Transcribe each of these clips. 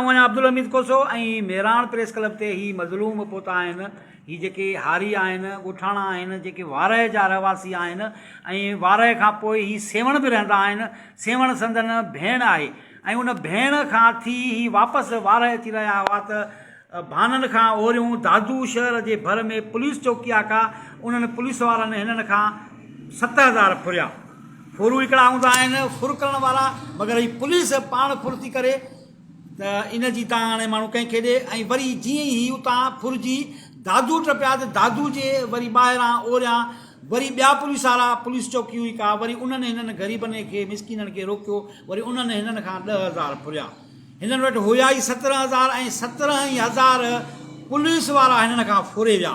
آئون آهيان Abdul Hamid Khoso ۽ Miran press club تي هي مظلوم پوتا آهن هي جيڪي هاري آهن ڳوٺاڻا آهن جيڪي وارهه جا رهواسي آهن ۽ وارهه کان پوء هي سيوهڻ به رهندا آهن سيوهڻ سندن ڀيڻ آهي ۽ ان ڀيڻ کان ٿي هي واپس وارهه اچي رهيا هئا ته ڀانن کان اوريون دادو شهر جي ڀر ۾ پوليس چوڪي آڪا انهن پوليس وارن هنن کان ست هزار ڦريا. ڦر هڪڙا هوندا آهن ڦر ڪرڻ وارا مگر هي پوليس پاڻ ڦر ٿي ڪري ته ان جي تان هاڻي ماڻهو ڪنهن کي ڏي ۽ وري جيئن ئي هي اتان ڦر جي دادو ٽپيا ته دادو جي وري ٻاهران اوريان وري ٻيا پوليس وارا پوليس چوڪي هئي ڪا وري انهن هنن غريبن کي مسڪينن کي روڪيو وري انهن هنن کان ڏهه هزار ڦريا. هنن وٽ هيا ئي سترهن هزار ۽ سترهن ئي هزار پوليس وارا هنن کان ڦوري ويا.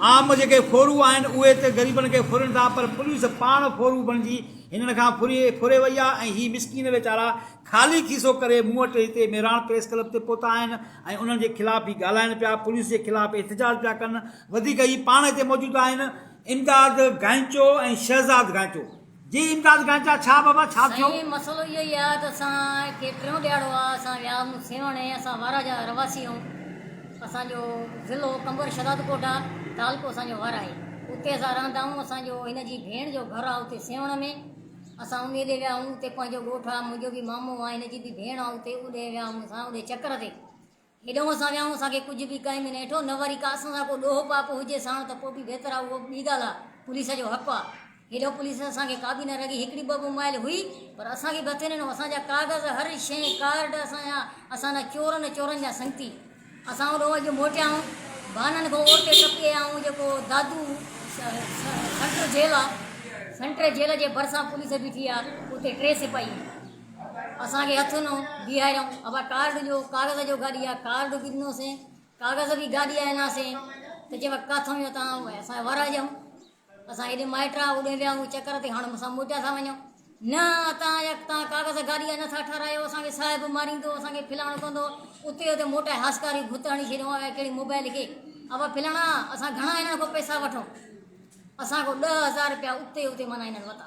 عام جيڪي ڦورو آهن اهي ته غريبن کي ڦورين ٿا پر پوليس پاڻ ڦورو بڻجي هنن کان ڦوري وئي آهي ۽ هي مسڪين ويچارا خالي کيسو ڪري مون وٽ هتي ميراڻ پريس ڪلب تي پهتا آهن ۽ انهن جي خلاف هي ڳالهائين پيا پوليس جي خلاف احتجاج پيا ڪن وڌيڪ هي پاڻ هتي موجود آهن امداد گائنچو ۽ شهزاد گائنچو. جي امداد گانچا ڇا بابا ڇا ٿيو. سائين مسئلو اهو ئي آهي ته اسان کي ٽيون ڏيهاڙو آهي اسان ويا آهيون سيوهڻ ۽ اسان وارا جا رهواسي آهيون اسان جو ضلعو قمبر شهداد ڪوٽ آهي تعلقو اسان جو وارا آهي اتي اسان رهندا آهيون اسان جو هن جي ڀيڻ جو گهر آهي اتي سيوهڻ ۾ اسان انهي ڏي ويا آهيون اتي پنهنجو ڳوٺ آهي منهنجو به مامو آهي هن جي به ڀيڻ آهي اتي اوڏي ويا آهيون اسان اوڏي چڪر تي هيڏانهن اسان ويائون، اسان کي ڪجهه به ڪنهن به نه هيٺو، نه وري ڪا اسان سان ڪو ڏوهه پاپ هجي ساڻ ته پوء به بهتر آ، اهو ٻي ڳالهه آ، پوليس جو حق آ. هيڏانهن پوليس اسان کي ڪا به نه رڳي هڪڙي ٻه ٻه مائل هئي، پر اسان کي به هٿي نه ڏنو، اسان جا ڪاغذ هر شيء ڪارڊ اسان جا، اسان نه چور نه چورن جا سنگتي. اسان هوڏانهن اڄ موٽيائون، بانن کان اورتي ٽپي آيائون، جيڪو دادو سنٽر جيل آ، سنٽر جيل جي ڀرسان پوليس بيٺي آ، اتي ٽي سپاهي آهن. اسان کي هٿ نو بيهاريائون ابا ڪارڊ ڏيو ڪاغذ جو گاڏي آ ڪارڊ به ڏنو سين ڪاغذ به گاڏي آ ڏنا سين ته چيو ڪاٿو ويو تان اسان ورا جون اسان هيڏي مائٽ آ اوڏي ويا هو چڪر تي هاڻ مسا موٽيا ٿا وڃو نه تان يا تان ڪاغذ گاڏي آ نٿا ٺارايو اسان کي صاحب ماريندو اسان کي فلاڻو ڪندو اتي اتي موٽائي هاسڪاري ڀت هڻي ڇڏيو آ ڪهڙي موبائل کي ابا فلاڻا اسان گهڻا هنن کان پئسا وٺو اسان کان 10000 روپيا اتي اتي منا هنن وتا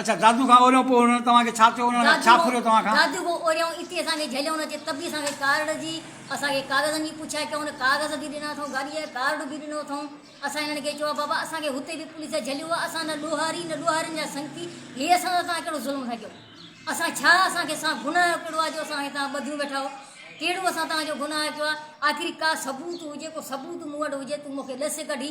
اڇا دادو کان اوريون پوء انهن توهان کي ڇا چيو انهن ڇا ڦريو توهان کان؟ دادو کان اوريون اتي اسان کي جهليو نه چي ته به اسان کي ڪارڊ جي اسان کي ڪاغذن جي پڇا ڪيائون نه ڪاغذ به ڏنا اٿئون گاڏي جا ڪارڊ به ڏنو اٿئون اسان انهن کي چيو بابا اسان کي هتي به پوليس جهليو آ اسان نه ڏوهاري نه ڏوهارين جا سنگتي هي اسان سان توهان ڪهڙو ظلم ٿا ڪيو اسان ڇا اسان کي اسان گناهه جو ڪهڙو آ جو اسان کي توهان ٻڌيون ويٺا آهو ڪهڙو اسان توهان جو گناهه ڪيو آ آخري ڪا ثبوت هجي ڪو ثبوت مون وٽ هجي تون مون کي ڏس ڪڍي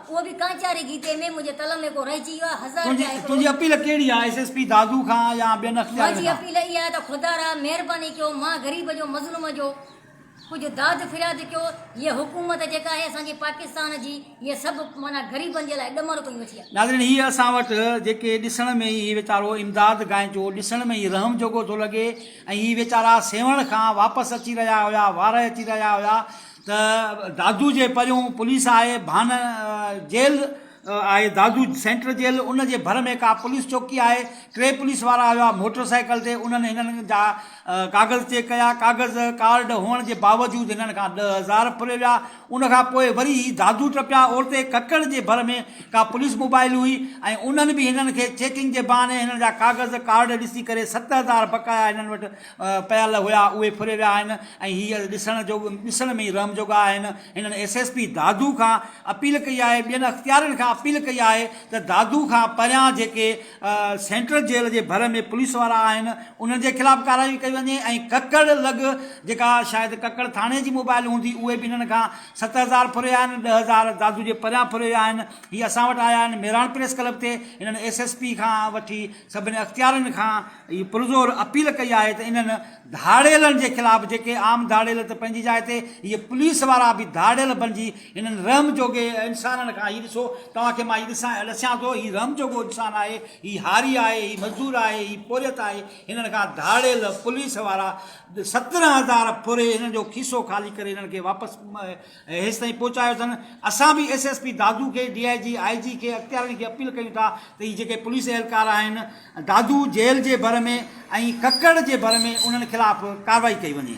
اهو به ڪانچاري گيتي ۾ منهنجي قلم ۾ ڪو رهجي ويو آهي هزار جا هڪڙو. تنهنجي اپيل ڪهڙي آهي ايس ايس پي دادو کان يا ٻين اختيارين کان؟ منهنجي اپيل اها آهي ته خدارا مهرباني ڪيو مان غريب جو مظلوم جو ڪجهه داد فرياد ڪيو هيء حڪومت جيڪا آهي اسان جي پاڪستان جي هيء سڀ معنيٰ غريبن جي لاء ڏمر ڪيون ويٺي آهي. ناظرين هيء اسان وٽ جيڪي ڏسڻ ۾ ئي هي ويچارو امداد گائنچو ڏسڻ ۾ ئي رحم جوڳو ٿو لڳي ۽ هي ويچارا سيوهڻ کان واپس اچي رهيا هيا وارهه اچي رهيا هيا ته دادو جي پريون پوليس آهي ڀان جيل آهي دادو سينٽر جيل ان جي ڀر ۾ ڪا پوليس چوڪي آهي ٽي پوليس وارا آيا موٽر سائيڪل تي انهن هنن جا ڪاغذ چيڪ ڪيا ڪاغذ ڪارڊ هئڻ جي باوجود هنن کان ڏهه هزار ڦري ويا ان کان پوء وري هي دادو ٽپيا اورتي ڪڪڙ جي ڀر ۾ ڪا پوليس موبائل هئي ۽ انهن به هنن کي چيڪنگ جي بهاني هنن جا ڪاغذ ڪارڊ ڏسي ڪري ست هزار بقايا هنن وٽ پيل هيا اهي ڦري ويا آهن ۽ هي ڏسڻ جو ڏسڻ ۾ ئي رحم جوڳا آهن هنن ايس ايس پي دادو کان اپيل ڪئي آهي ٻين اختيارين کان اپيل ڪئي آهي ته دادو کان پريان جيڪي سينٽرل جيل جي ڀر ۾ پوليس وارا آهن انهن جي خلاف ڪارروائي ڪئي وڃي ۽ ڪڪڙ لڳ جيڪا شايد ڪڪڙ ٿاڻي جي موبائل هوندي اهي به هنن کان ست هزار ڦري ويا آهن ڏهه هزار دادو جي پريان ڦري ويا آهن هي اسان وٽ آيا آهن ميراڻ پريس ڪلب تي هنن ايس ايس پي کان وٺي سڀني اختيارين کان اهي پرزور اپيل ڪئي آهي ته انهن ڌاڙيلن جي خلاف جيڪي عام ڌاڙيل ته پنهنجي جاء تي اهي پوليس وارا به ڌاڙيل بنجي انهن رحم جوڳي انسانن کان هي ڏسو توهان کي مان هي ڏسيان ٿو هي رحم جوڳو انسان آهي هي هاري آهي هي مزدور آهي هي پورهيت آهي هنن کان ڌاڙيل پوليس وارا سترهن هزار ڦري هنن جو کيسو خالي ڪري هنن کي واپس ۽ هيستائين پهچايو اٿن، اسان به ايس ايس پي دادو کي، ڊي آء جي، آء جي کي اختيارين کي اپيل ڪيون ٿا ته هي جيڪي پوليس اهلڪار آهن دادو جيل جي ڀر ۾ ۽ ڪڪڙ جي ڀر ۾ انهن خلاف ڪارروائي ڪئي وڃي.